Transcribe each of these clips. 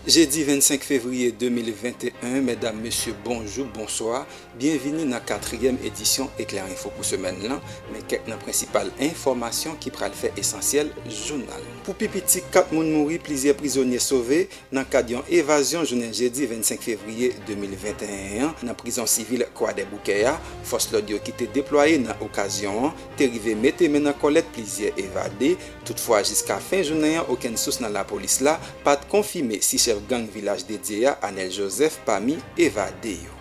Jedi 25 fevriye 2021 Medam, Mesye, bonjou, bonswa, byenvini nan katriyèm edisyon Eklè Info pou semèn lan, men kèk nan prensipal enfòmasyon ki pral fè esansyèl jounal nou. Pou pi piti 4 moun mouri, plizyè prizonye sove nan kad yon evazyon jounen jedi 25 fevriye 2021 an nan prizon sivil Kwadèboukè a, fòs lòd yo ki te deplwaye nan okazyon an te rive mete men nan kòlèt plizyè evade, Toutfwa jiska fen jounen an okenn sous nan lapolis la pat konfime si chèf gang Vilaj Dedye a, Anel Joseph pami evade yo.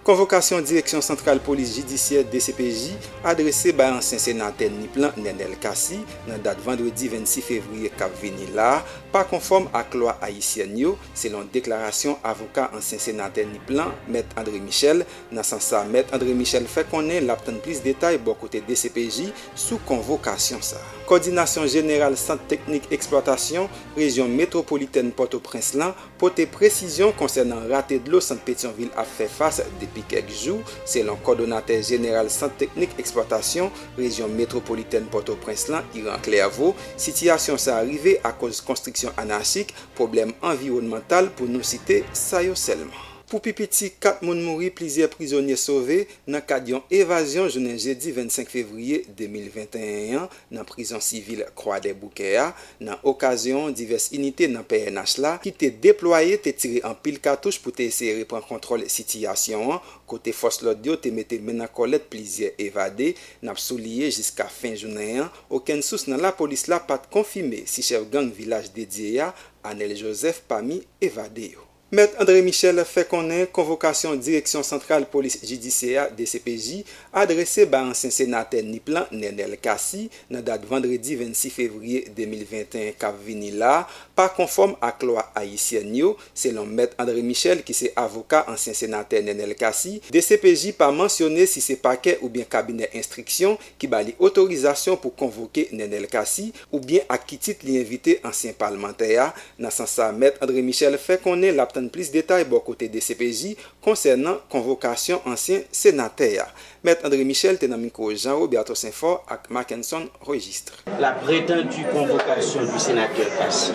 Konvokasyon Direksyon Santral Polis Jidisyè, dcpj, adrese bay ansyen senatè Nip lan Nenel Cassy nan dat vandredi 26 fevriye kap vini la a pa konfòm ak lwa ayisyèn yo, selon deklarasyon avoka ansyen senatè Nip lan, Mèt André Michel, Nan sans sa, Mèt André Michel fè konnen lap tann plis detay bò kote dcpj sou konvokasyon sa. Kòdinasyon Jeneral Sant Teknik Eksplwatasyon Rejyon Metwopolitèn Pòtoprens lan pote presizyon konsènan rate dlo Sant Petyonvil ap fè fas depi kèk jou, selon Kòdonatè Jeneral Sant Teknik Eksplwatasyon Rejyon Metwopolitèn Pòtoprens lan, Iran Clerveau, sitiyasyon sa rive akoz konstriksyon anachik, pwoblèm anviwònmantal pou nou site sa yo sèlman. Pou pi piti 4 moun mouri plizyè prizonye sove nan kad yon evazyon jounen jedi 25 fevriye 2021 an nan prizon sivil Kwadèboukè a nan okazyon divès inite nan pnh la ki te deplwaye te tire anpil katouch pou te eseye repran kontwòl sitiyasyon an kote fòs lòd yo te mete men nan kòlèt plizyè evade. N ap souliye jiska fen jounen an okenn sous nan lapolis la pat konfime si chèf gang Vilaj Dedye a, Anèl Jozèf pami evade yo. Mèt André Michel fè konnen konvokasyon Direksyon Santral Polis Jidisyè a, dcpj, adrese ba ansyen senatè Nip lan, Nenel Cassy, nan dat vandredi 26 fevriye 2021 k ap vini la a, pa konfòm ak lwa ayisyèn yo. Selon Mèt André Michel ki se avoka ansyen senatè Nenel Cassy, dcpj pa mansyone si se pakè oubyen kabinè enstriksyon ki ba li otorizasyon pou konvoke Nenel Cassy oubyen ak ki tit li envite ansyen palmantè a, nan sans sa mèt André Michel fè konnen lap tann plis detay bò kote dcpj konsènan konvokasyon ansyen senatè a. Mèt André Michel te nan mikwo Jean Robert Toussaintfort ak Mackenson Registre. La prétendue convocation du sénateur Cassy,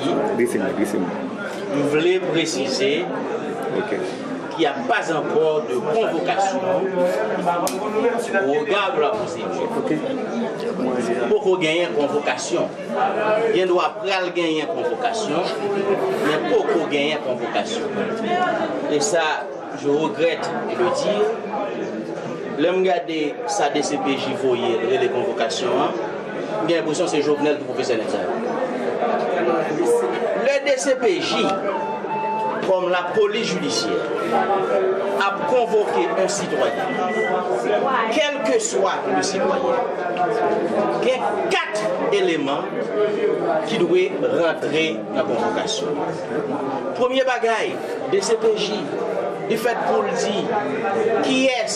m vle presize. Il y a pas encore de convocation au regard de la procédure. Poko genyen konvokasyon. Gen dwa pral genyen konvokasyon, men poko genyen konvokasyon. E sa, je regrette de le dire, lè m gade sa dcpj voye rele konvokasyon an, M gen enpresyon se Jovenel ki pwofesè nèg sa yo. Lè dcpj, kòm lapolis jidisyè, ap konvoke yon sitwayen, kèlkeswa le sitwayen, gen 4 eleman ki dwe rantre nan konvokasyon an. Premye bagay, dcpj. Li fèt pou l di kiyès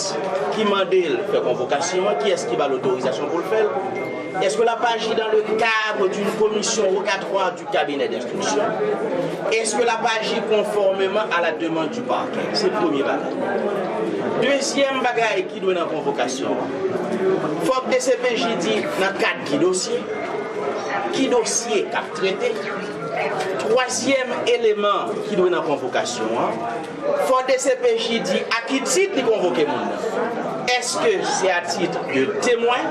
ki mande l fè konvokasyon an, kiyès ki ba l otorizasyon pou l fè l, èske l ap aji dan le cadre d'une commission rogatoire du cabinet d'instruction, èske l ap aji konfòmeman a la demande du parquet. Se premye bagay. Dezyèm bagay ki dwe nan konvokasyon an, fòk dcpj di nan kad ki dosye, ki dosye k ap trete. Twazyèm eleman ki dwe nan konvokasyon an, fò dcpj di a ki tit li konvoke moun nan. Èske se a tit de temwen?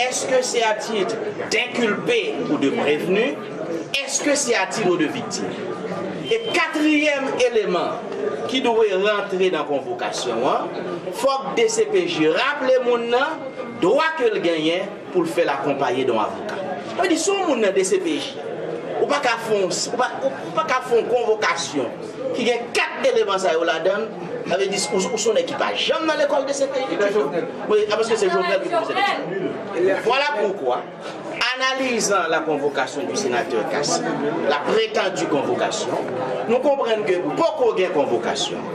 Èske se a tit denkilpe ou de prevni? Èske se a tiro de viktim? E katriyèm eleman ki dwe rantre nan konvokasyon an, fòk dcpj raple moun nan dwa ke l genyen, pou l fè l akonpaye de yon avoka. Sa vle di si yon moun nan dcpj, ou pa ka fè yon pa ka fè yon konvokasyon ki gen 4 eleman sa yo ladan l, sa vle di ou se yon nèg ki pa janm nan lekòl dcpj ditou, a paske se Jovenel ki pwofesè dcpj. Vwala poukwa, analizan la convocation du sénateur Cassy, la prétendue convocation, nou konprann ke poko gen konvokasyon.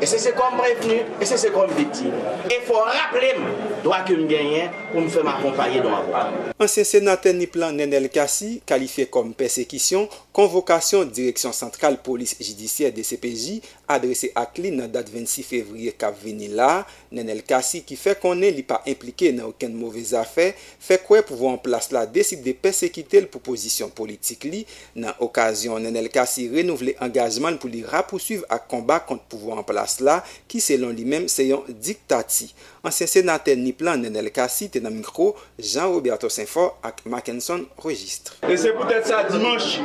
E se se kòm prevni, e se se kòm viktim. E fò w raple m dwa ke m genyen pou m fè m akonpaye de w avoka. Ansyen senatè Nip lan Nenel Cassy kalifye kòm pèsekisyon konvokasyon Direksyon Santral Polis Jidisyè, dcpj, adrese ak li nan dat 26 fevriye k ap vini la a. Nenel Cassy ki fè konnen li pa enplike nan okenn move zafè, fè kwè pouvwa an plas la deside pèsekite l pou pozisyon politik li, Nan okazyon, Nenel Cassy renouvle angajman l pou li rapousuiv ak konba kont pouvwa an plas la ki selon li menm se yon diktati. Ansyen senatè Nip lan Nenel Cassy te nan mikro Jean Roberto Senfort ak Mackenson Registre. E se poutèt sa dimanch,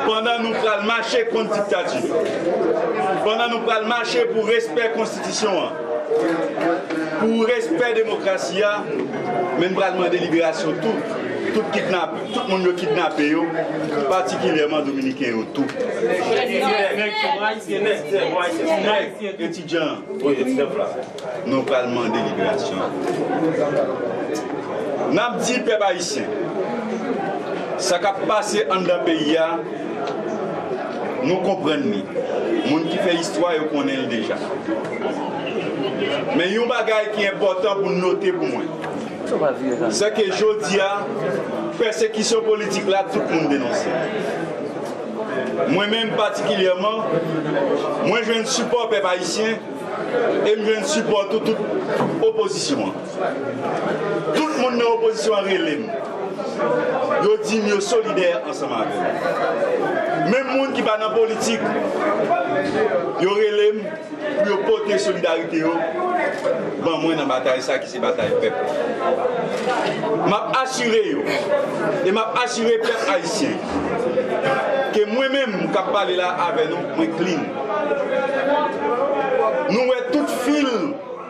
pandan nou pral mache kont diktati, pandan nou pral mache pou respè konstitisyon an, pou respè demokrasi a, men n pral mande liberasyon tou tout kidnapè. Tout moun yo kidnape yo, patikilyèman Dominiken yo tou. Etidyan an, nou pral mande liberasyon l. N ap di pèp ayisyen, sa k ap pase anndan peyi a, nou konprann li. Moun ki fè istwa yo konnen l deja. Men yon bagay ki enpòtan pou note pou mwen. Sè ke jodi a, pèsekisyon politik la tout moun denonse. Mwen menm patikilyèman, mwen jwenn sipò pèp ayisyen e m jwenn sipò tou tout opozisyon an. Tout moun nan opozisyon an rele m, yo di m yo solidè ansanm avè m. Menm moun ki pa nan politik, yo rele m. pou yo pote solidarite yo ban mwen nan batay sa ki se batay pèp la. M ap asire yo e m ap asire pèp ayisyen ke mwen menm k ap pale la avè nou, mwen klin. Nou wè tout fil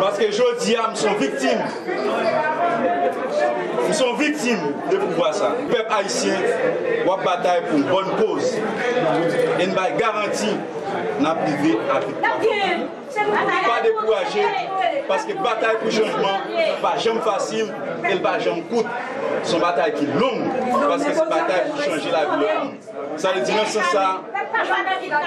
Paske jodi a m son viktim. M son viktim de pouvwa sa. Pèp ayisyen wap batay pou yon bòn koz e n bay garanti n ap rive a viktwa final. Pa dekouraje paske batay pou chanjman pa janm fasil e l pa janm kout. S on batay ki long paske se batay pou chanje lavi lòt moun. Sa vle di nan sans sa,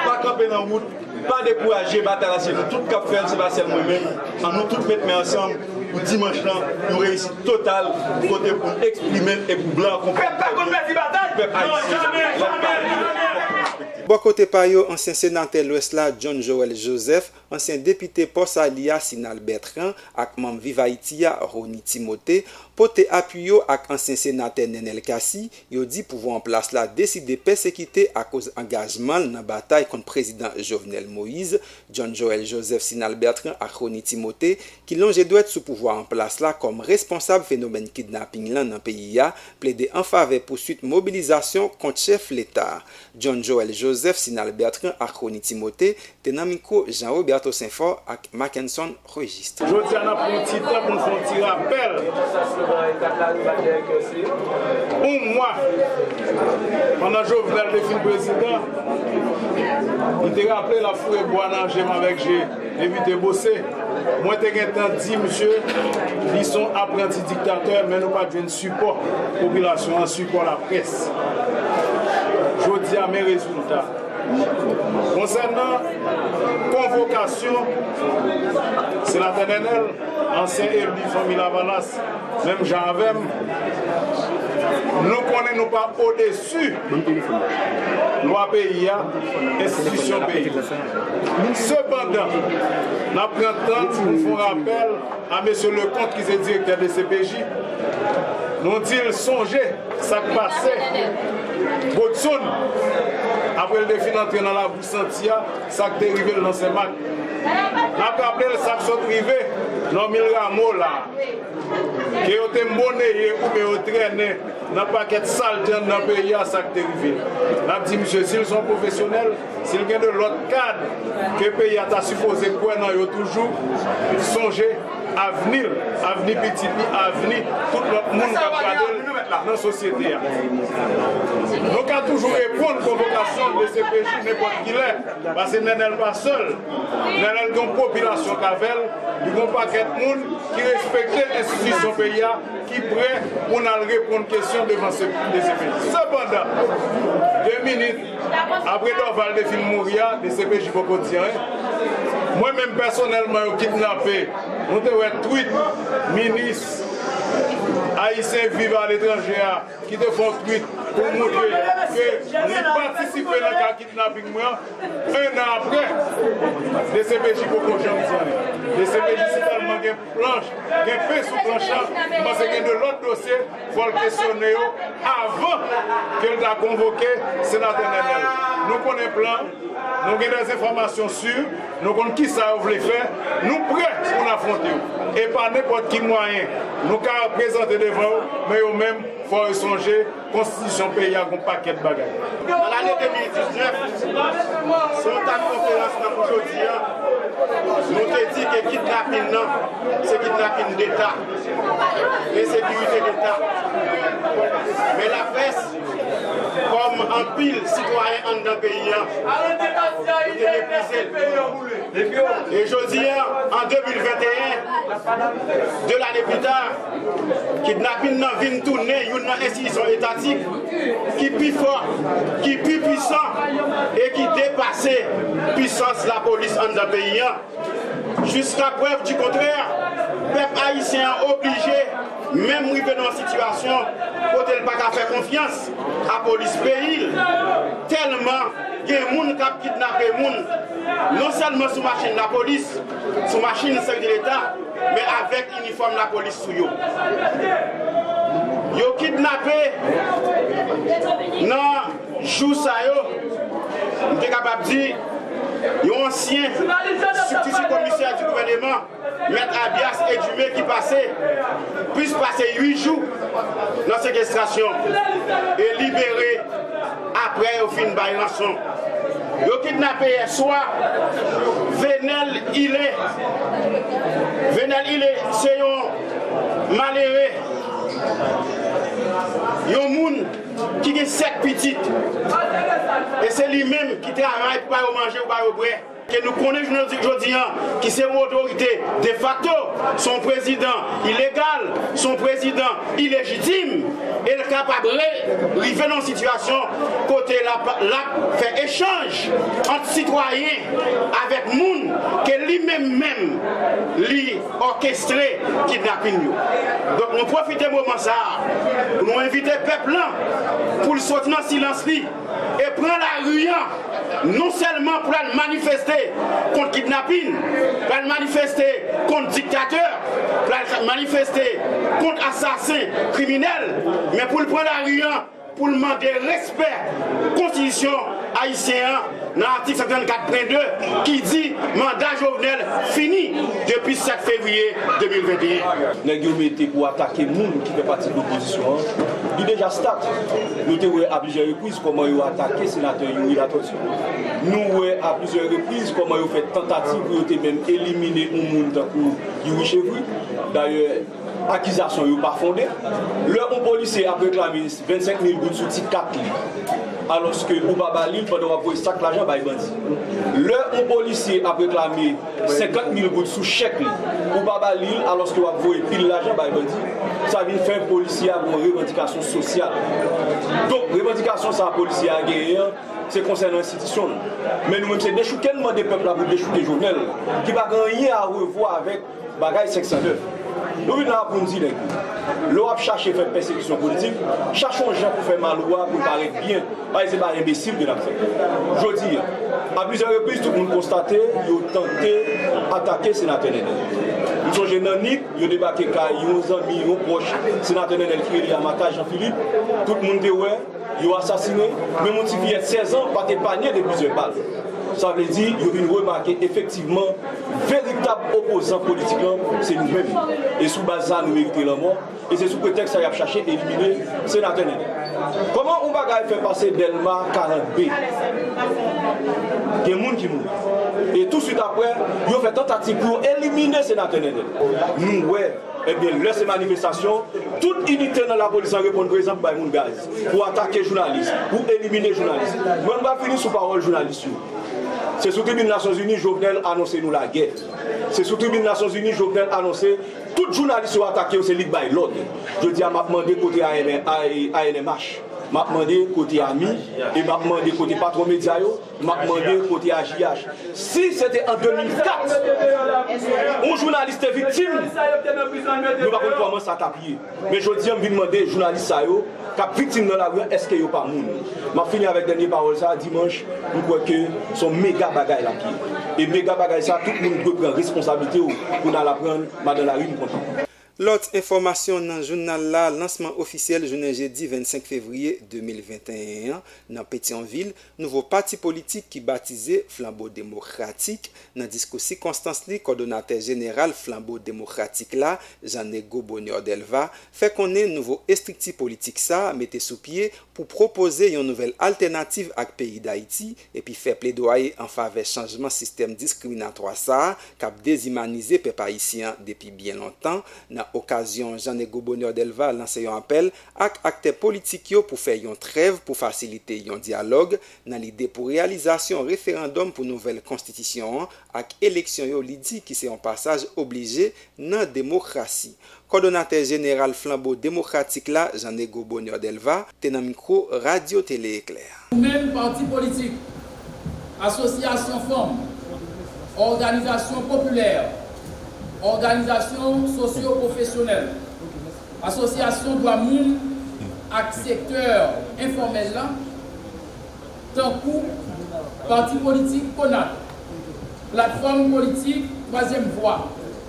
pa kanpe nan wout, pa dekouraje, batay la se nou tout kap fèl se pa sèl mwen menm, an nou tout met men ansanm pou dimanch lan yon reyisit total kote pou n eksprime e pou blan an konprann trè byen pou pèp ayisyen lèl pale fòk li respekte. Bò kote pa yo, ansyen senatè Lwès la John Joël Joseph, ansyen depite Pò Sali a Sinal Bertrand ak manm Viv Ayiti a Rony Timothée pote apui yo ak ansyen senatè Nenel Cassy Yo di pouvwa an plas la deside pèsekite akoz angajman l nan batay kont prezidan Jovenel Moise, John Joël Joseph Sinal Bertrand ak Rony Timothé ki lonje dwèt sou pouvwa an plas la kòm responsab fenomèn kidnaping lan nan peyi a, plede anfavè pouswit mobilizasyon kont chèf leta a. John Joël Joseph Sinal Bertrand ak Rony Timothé te nan mikwo Jean Roberto Sainfort ak Mackenson Registre. Jodi a n ap pran yon ti tan pou n fè yon ti rapèl on mwa pandan Jovenel te fin prezidan li te raple l ap foure bwa nan je m avèk je evite bose mwen te gen tan di misye li s on apranti diktatè men nou pa t jwenn Sipò popilasyon an, sipò laprès. Jodi a men rezilta. Konsènan konvokasyon Senatè Nènèl, ansyen eli Fanmi Lavalas menm jan avè m, nou konnen nou pa odesu lwa peyi a, enstitisyon peyi a. Sepandan, n ap pran tan pou n fè yon rapèl. A Mesye Leconte ki se direktè dcpj, nou di l sonje sa k pase Godson apre l te fin antre nan labou santi a, sa k te rive l nan Sen Mak. N ap raple l sa k sot rive Normil Rameau la a, ke yo te monneye oubyen yo trennen nan pakèt salte anndan peyi a sa k te rive l. N ap di misye si l se yon pwofesyonèl, Si l gen de lòt kad ke peyi a ta sipoze kwè nan yo toujou, sonje avni l, avni pitit li, avni tout lòt moun k ap gade l nan sosyete a. Nou ka toujou reponn konvokasyon dcpj nenpòt kilè, pase Nenel pa sèl. Nenel gen yon popilasyon k avè l, li gen yon pakèt moun ki respekte enstitisyon peyi a ki prè pou n al reponn kesyon devan dcpj. Sepandan, 2 minit. Apre Dorval te fin mouri a, dcpj poko di anyen. Mwen menm pèsonèlman yo kidnape, nou te wè tweet minis Ayisyen viv a letranje a ki te fè yon tweet pou l montre ke li patisipe nan ka kidnaping mwen an. 1 an apre, dcpj poko janm di anyen. Dcpj si tèlman gen planch, gen pen sou planch la, m panse gen 2 lòt dosye Fò l kesyone yo avan ke l ta konvoke Senatè Nènèl. Nou konnen plan, nou gen dè enfòmasyon si, nou konn kisa yo vle fè, nou prè pou n afwonte yo. E pa nenpòt ki mwayen nou ka prezante devan yo, men yo menm fò yo sonje konstitisyon peyi a gon pakèt bagay. Nan lane 2019, sou yon tab konferans tankou jodi a, nou te di ke kidnapin nan se kidnapin deta. Ensekirite leta Men laprès kòm anpil sitwayen anndan peyi an nou te meprize l e jodi a an 2021 2 lane pli ta kidnapin nan vin tounen youn nan enstitisyon etatik ki pi fò ki pi pwisan e ki depase pwisans lapolis anndan peyi an. Jiska prèv di kontrè, pèp ayisyen an oblije menm rive nan yon sitiyasyon kote l pa ka fè konfyans a polis peyi l tèlman gen moun k ap kidnape moun non sèlman sou machin lapolis, sou machin sèvis leta men avèk inifòm lapolis sou yo. Yo kidnape nan. Jou sa yo, nou te kapab di, yon ansyen sibtiti komisè di gouvèneman, Mèt Abias Edumé ki pase plis pase 8 jou nan sekestrasyon e libere aprè yo fin bay ranson. Yo kidnape yèswa Venel Ile. Venel Ile se yon malere, yon moun. ki gen sèt pitit, e se li menm ki travay pou ba yo manje, pou ba yo bwè, ke nou konnen jounen jodi an ki se yon otorite defakto, se yon prezidan ilegal, se yon prezidan ilejitim, e l kapab rive nan yon sitiyasyon kote l ap fè echanj ant sitwayen avèk moun ke li menm menm li. òkestre kidnapin yo. Donk nou pwofite moman sa a pou nou envite pèp lan pou l soti nan silans li e pran lari an non sèlman pou l al manifeste kont kidnapin, pou l al manifeste kont diktatè, pou l al manifeste kont asasen kriminèl men pou l pran lari an. pou l mande respè konstitisyon ayisyen an nan atik 134 pwen 2 ki di manda Jovenel fini depi 7 fevriye 2021. Nèg yo mete pou atake moun ki fè pati opozisyon an, li deja stat. Nou te wè a plizyè repriz kòman yo atake senatè Youri Latortue. Nou wè a plizyè repriz kòman yo fè tantativ pou yo te menm elimine yon moun tankou Youri Chevry. Dayè. Akizasyon yo pa fonde. Lè yon polisye ap reklame 25 mil goud sou ti kat li, alòske ou pa ba li l pandan w ap voye sak lajan bay bandi. Lè yon polisye ap reklame 50 mil goud sou chèk li, ou pa ba li l alòske w ap voye pil lajan bay bandi, sa vin fè polisye a gen yon revandikasyon sosyal. Donk, revandikasyon sa a polisye a genyen an, se konsènan enstitisyon l. Men nou menm se dechouke n mande pèp la pou dechouke Jovenel, ki pa gen anyen a revwa avèk. Bagay 509. Nou vin la a pou n di nèg yo, lè w ap chache fè pèsekisyon politik, chache yon jan pou fè mal ou a pou l parèt byen, paske se pa enbesil ke n ap fè. Jodi a, a plizyè repriz tout moun konstate yo tante atake Senatè Nenel. M sonje nan Nip, yo debake kay yon zanmi, yon pwòch Senatè Nenel ki rele Amata Jean Philippe, tout moun te wè, Yo asasine menm yon ti fiyèt 16 an pa t epanye de plizyè bal. Sa vle di yo vin remake efektivman veritab opozan politik lan se nou menm. E sou baz sa nou merite lanmò e se sou pretèks sa y ap chache elimine Senatè Nenel. Kòman yon bagay fè pase Dèlma 40 B gen moun ki mouri e touswit aprè yo fè tantativ pou yo elimine Senatè Nenel. Nou wè Ebyen lè se manifestasyon, tout inite nan lapolis la reponn prezan pou bay moun gaz, pou atake jounalis, pou elimine jounalis. Mwen m pral fini sou pawòl jounalis yo. Se sou tribin Nasyonzini Jovenel anonse nou lagè. Se sou tribin Nasyonzini Jovenel anonse tout jounalis yo atake yo se li k bay lòd. Jodi a m ap mande kote ANMH? M ap mande kote ami? E m ap mande kote patwon medya yo? Map mande kote a JH. Si se te an 2004 yon jounalis te viktim nou pa konn kòman sa tap ye men jodi an m vin mande jounalis sa yo kap viktim nan lari an eske yo pa moun map fini avèk dènye pawòl sa dimanch m kwè ke son mega bagay lap ye e mega bagay sa tout moun dwe pran responsablite w pou n al aprann madan lari m kontan. Lòt enfòmasyon nan jounal la, Lansman ofisyèl jounen jedi 25 fevriye 2021 an nan Petyonvil nouvo pati politik ki batize Flanbo Demokratik. Nan diskou sikonstans li, kòdonatè jeneral Flanbo Demokratik la, Jean Nego Bonheur Delva, fè konnen nouvo estrikti politik sa mete sou pye pou pwopoze yon nouvèl altènativ ak peyi Dayiti epi fè pledwaye an favè chanjman sistèm diskriminatwa sa a k ap dezimanize pèp ayisyen an depi byen lontan. Nan okazyon Jean Nego Bonheur Delva lanse yon apèl ak aktè politik yo pou fè yon trèv pou fasilite yon dyalòg nan lide pou reyalizasyon referandòm pou nouvèl konstitisyon an ak eleksyon yo li di ki se yon pasaj oblije nan demokrasi. Kòdonatè jeneral Flanbo Demokratik la, Jean Nego Bonheur Delva, te nan mikwo Radyo Tele Eklè. Ou menm, pati politik, asosyasyon fanm, òganizasyon popilè, òganizasyon sosyo-pwofesyonèl, asosyasyon dwa moun ak sektè enfòmèl la, tankou pati politik Konat, Platfòm Politik Twazyèm Vwa,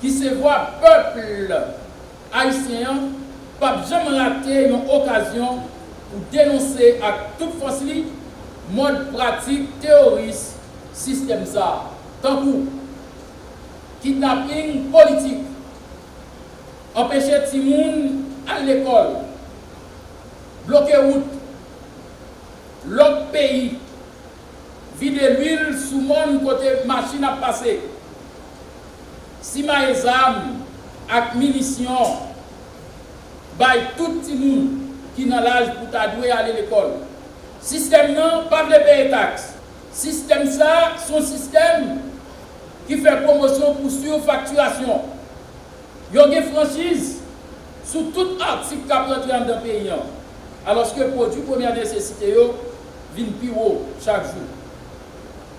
ki se vwa pèpl ayisyen an, p ap janm rate yon okazyon pou denonse ak tout fòs li mòd pratik teyoris sistèm sa a, tankou, kidnaping politik, anpeche timoun al lekòl, bloke wout, lòk peyi, vide lwil sou mòn kote machin ap pase, simaye zam ak minisyon bay tout timoun ki nan laj pou ta dwe ale lekòl. Sistèm nan pa vle peye taks. Sistèm sa son sistèm ki fè pwomosyon pou surfaktirasyon. Yo gen franchiz sou tout atik k ap rantre anndan peyi an, alòske pwodui premyè nesesite yo vin pi wo chak jou.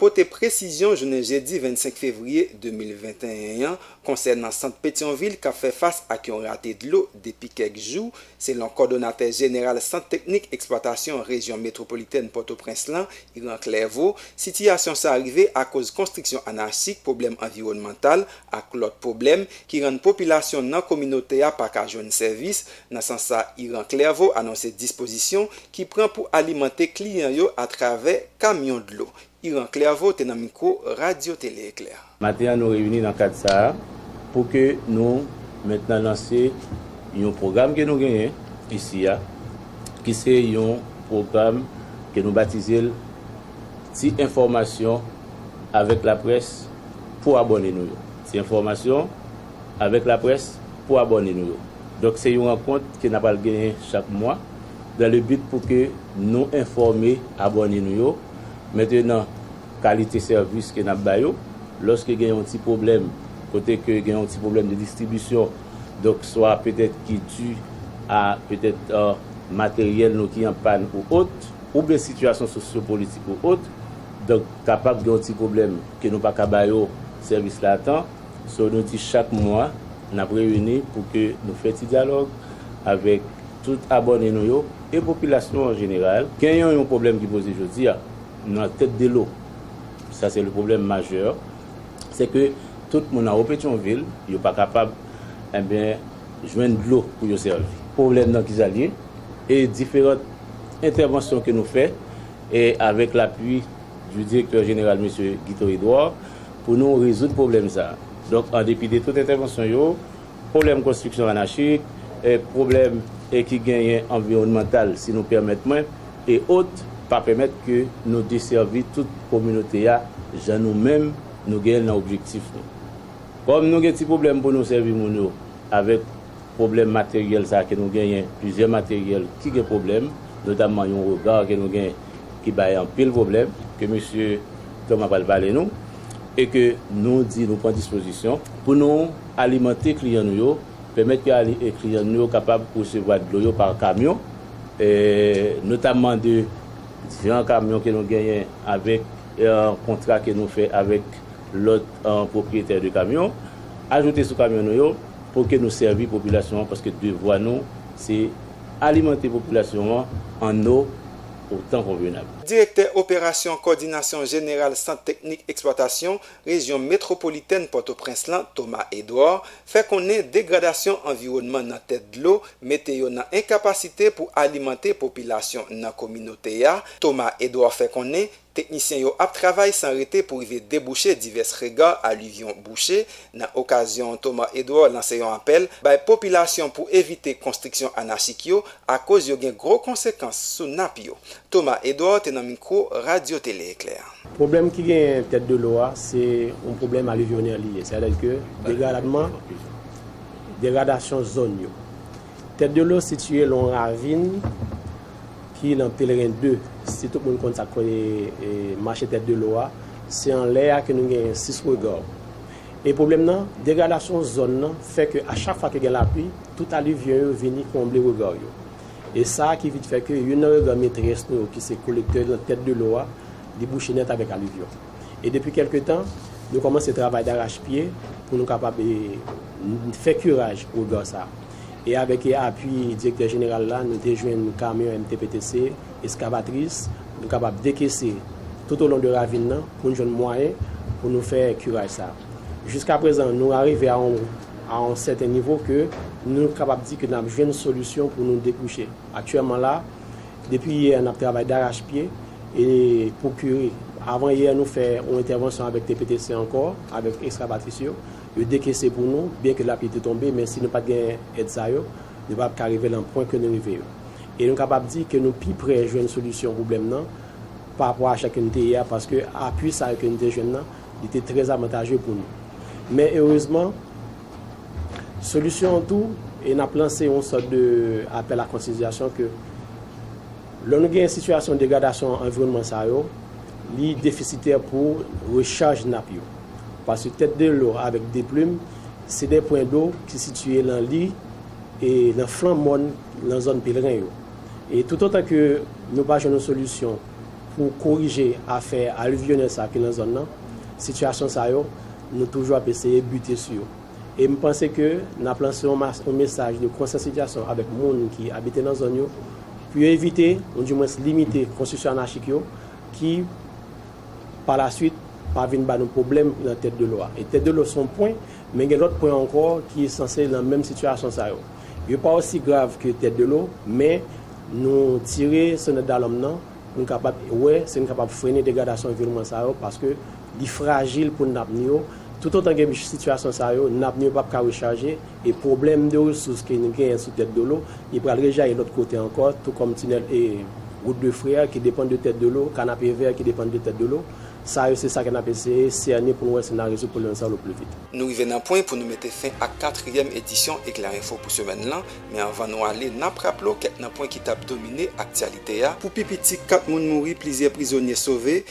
pote presizyon jounen jedi 25 fevriye 2021 an konsènan sant Petyonvil k ap fè fas ak yon rate dlo depi kèk jou, selon kòdonatè jeneral Sant Teknik Eksplwatasyon Rejyon Metwopolitèn Pòtoprens lan, Yran Clerveau, sitiyasyon sa rive akoz konstriksyon anachik, pwoblèm anviwònmantal ak lòt pwoblèm ki rann popilasyon nan kominote a pa ka jwenn sèvis, Nan sans sa Iran Clerveau anonse dispozisyon ki pran pou alimante kliyan yo atravè kamyon dlo. Iran Clerveau te nan mikwo Radyo Tele Eklè. Maten an nou reyini nan kad sa a pou ke nou mentnan lanse yon pwogram ke nou genyen isi a ki se yon pwogram ke nou batize l Ti enfòmasyon avèk laprès pou abòne nou yo. Ti enfòmasyon. Avèk laprès pou abòne nou yo. Donk se yon rankont ke na pral genyen chak mwa dan le bit pou ke nou enfòme abòne nou yo mentenan kalite sèvis ke nap ba yo. Lòske gen yon ti pwoblèm kote ke gen yon ti pwoblèm de distribisyon donk swa petèt ki di a petèt materyèl nou ki an pàn ou ot oubyen sitiyasyon sosyo politik ou ot donk kapab gen yon ti pwoblèm ke nou paka ba yo sèvis la a tan. So nou di chak mwa nap reyini pou ke nou fè ti dyalòg avèk tout abòne nou yo e popilasyon an jeneral. Genyen yon pwoblèm ki poze jodi a nan tèt de lo, sa se le pwoblèm majè, se ke tout moun anwo Petyonvil yo pa kapab enben jwenn dlo pou yo sèvi. Pwoblèm nan kisa l ye? E diferant entèvansyon ke nou fè e avèk lapui di direktè jeneral mesye Guito Edouard, pou nou rezoud pwoblèm sa a. Donk, an depi de tout entèvansyon yo, pwoblèm konstriksyon anachik, pwoblèm ki genyen anviwònmantal, si nou pèmèt mwen, e ot, pa pèmèt ke nou desèvi tout kominote a jan nou menm nou genyen l nan objektif nou. Kòm nou gen ti pwoblèm pou nou sèvi moun yo avèk pwoblèm materyèl sa a ke nou genyen, plizyè materyèl ki gen pwoblèm, notamman yon rega ke nou gen, ki bay anpil pwoblèm ke mesye Thomas pral pale nou e ke nou di nou pran dispozisyon pou nou alimante kliyan nou yo, pèmèt ke kliyan nou yo kapab resevwa dlo yo pa kamyon, notamman de diferan kamyon ke nou genyen avèk kontra ke nou fè avèk lòt pwopriyetè de kamyon, ajoute sou kamyon nou yo pou ke nou sèvi popilasyon an paske devwa nou se. Alimante popilasyon an an o otan konvenab. Direktè operasyon Kòdinasyon Jeneral Sant Teknik Eksplwatasyon Rejyon Metwopolitèn Pòtoprens lan, Thomas Edouard, fè konnen degradasyon anviwònman nan tèt dlo mete yo nan enkapasite pou alimante popilasyon nan kominote a, Thomas Edouard fè konnen Teknisyen yo ap travay san rete pou rive debouche divès rega alivyon bouche. Nan okazyon an Thomas Edouard lanse yon apèl bay popilasyon pou evite konstriksyon anachik yo akoz yo gen gwo konsekans sou nap yo. Thomas Edouard te nan mikwo Radyo Tele Eklè. Pwoblèm ki genyen tèt de lo a se yon pwoblèm alivyonè li ye, sètadi ke degaradman, degradasyon zòn yo. Tèt de lo sitiye lon ravin ki nan Pelren 2. Si tout moun konn sa k mache tèt de lo a, se anlè a ke nou genyen Six Regards. E pwoblèm nan, degradasyon zòn nan fè ke a chak fwa ke gen lapli, tout alivyon yo vini konble rega yo. E sa ki vit fè ke youn nan rega metrès nou yo ki se kolektè nan tèt de lo a, li bouche nèt avèk alivyon. E depi kèlke tan, nou kòmanse travay darachpye pou nou kapab fè kiraj Wogàn sa. E avèk apui Direktè Jeneral la, nou te jwenn kamyon MTPTC, eskavatris, pou nou kapab dekese toutolon de ravin nan pou nou jwenn mwayen pou nou fè kiraj sa. Jiskaprezan, nou arive a yon sèten nivo ke nou kapab di ke n ap jwenn solisyon pou nou debouche. Aktyèlman la, Depi yè nap travay darach pye e pou kure. Avan yè nou fè yon entèvansyon avèk TPTC ankò avèk ekskavatris yo. Yo dekese pou nou byen ke lapli te tonbe men si nou pat gen èd sa yo nou patap ka rive lan pwen ke nou rive yo. E nou kapab di ke nou pi prè jwenn solisyon pwoblèm nan pa rapò a acha ke nou te ye a paske apui sa yo ke nou te jwenn nan li te trè avantaje pou nou. Men erezman. Solisyon an tou, e n ap lanse yon sòt de apèl a konsyantizasyon ke lò nou genyen sitiyasyon degradasyon anviwònman sa yo, li defisitè pou rechaj nap yo. Paske tèt de lò avèk de plim, se de pwen do ki sitiye lan li e lan flan mòn lan zòn Pelren yo. E toutotan ke nou pa jwenn yon solisyon pou korije afè alivyonèl sa ki lan zòn lan, sitiyasyon sa yo Nou toujou ap eseye bute sou yo. E m panse ke n ap lanse yon mas yon mesaj de konsyansityasyon avèk moun ki abite nan zòn yo pou yo evite ou di mwens limite konstriksyon anachik yo ki pa la swit pa vin ba nou pwoblèm nan tèt de lò a. E tèt de lò se yon pwen men gen lòt pwen ankò ki sanse nan menm sitiyasyon sa yo. Yo pa osi grav ke tèt de lò men nou tire sonèt dalòm nan pou n kapab wè si n kapab frene degradasyon vilman sa yo paske Li frajil pou nap nou yo. Toutotan gen sitiyasyon sa yo, nap nou yo pap ka rechaje, e pwoblèm de resous ke nou genyen sou tèt de lo, li pral rejayi lòt kote ankò, tou kòm tinèl e Route de Frères ki depann de tèt de lo, Kanapevè ki depann de tèt de lo. Sa yo se sa ke nap eseye sène pou nou wè si na rezoud pwoblèm sa yo le pli vit. Nou rive nan pwen pou nou mete fen ak katriyèm edisyon Eclair Info pou semèn lan, men anvan nou ale nap raple w kèk nan pwen ki tap domine aktyalite a, Pou pi piti 4 moun mouri, plizyè prizonye sove,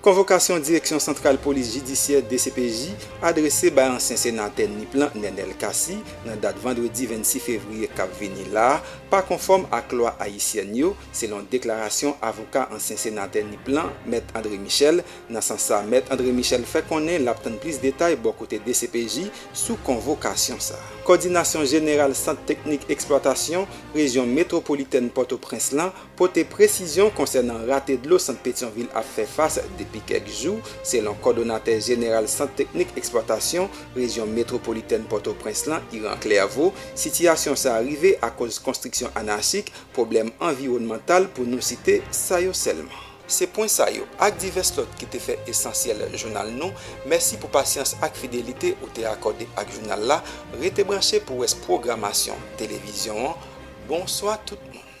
Konvokasyon Direksyon Santral Polis Jidisyè, dcpj, adrese bay ansyen senatè Nip lan, Nenel Cassy, nan dat vandredi 26 fevriye k ap vini la a, pa konfòm ak lwa ayisyèn yo, selon deklarasyon avoka ansyen senatè Nip lan, mèt André Michel. Nan sans sa, mèt André Michel fè konnen l ap tann plis detay bò kote dcpj sou konvokasyon sa a. Kòdinasyon Jeneral Sant Teknik Eksplwatasyon rejyon metwopolitèn Pòtoprens lan Pote presizyon konsènan rate dlo sant Petyonvil ap fè fas depi kèk jou, selon kòdonatè jeneral Sant Teknik Eksplwatasyon Rejyon Metwopolitèn Pòtoprens lan, Iran Clerveau, sitiyasyon sa a rive akoz konstriksyon anachik, pwoblèm anviwònmantal pou nou site sa yo sèlman. Se pwen sa yo, ak divès lòt ki te fè esansyèl jounal nou. Mèsi pou pasyans ak fidelite ou te akòde ak jounal la. Rete branche pou rès pwogramasyon televizyon an. Bonswa tout moun.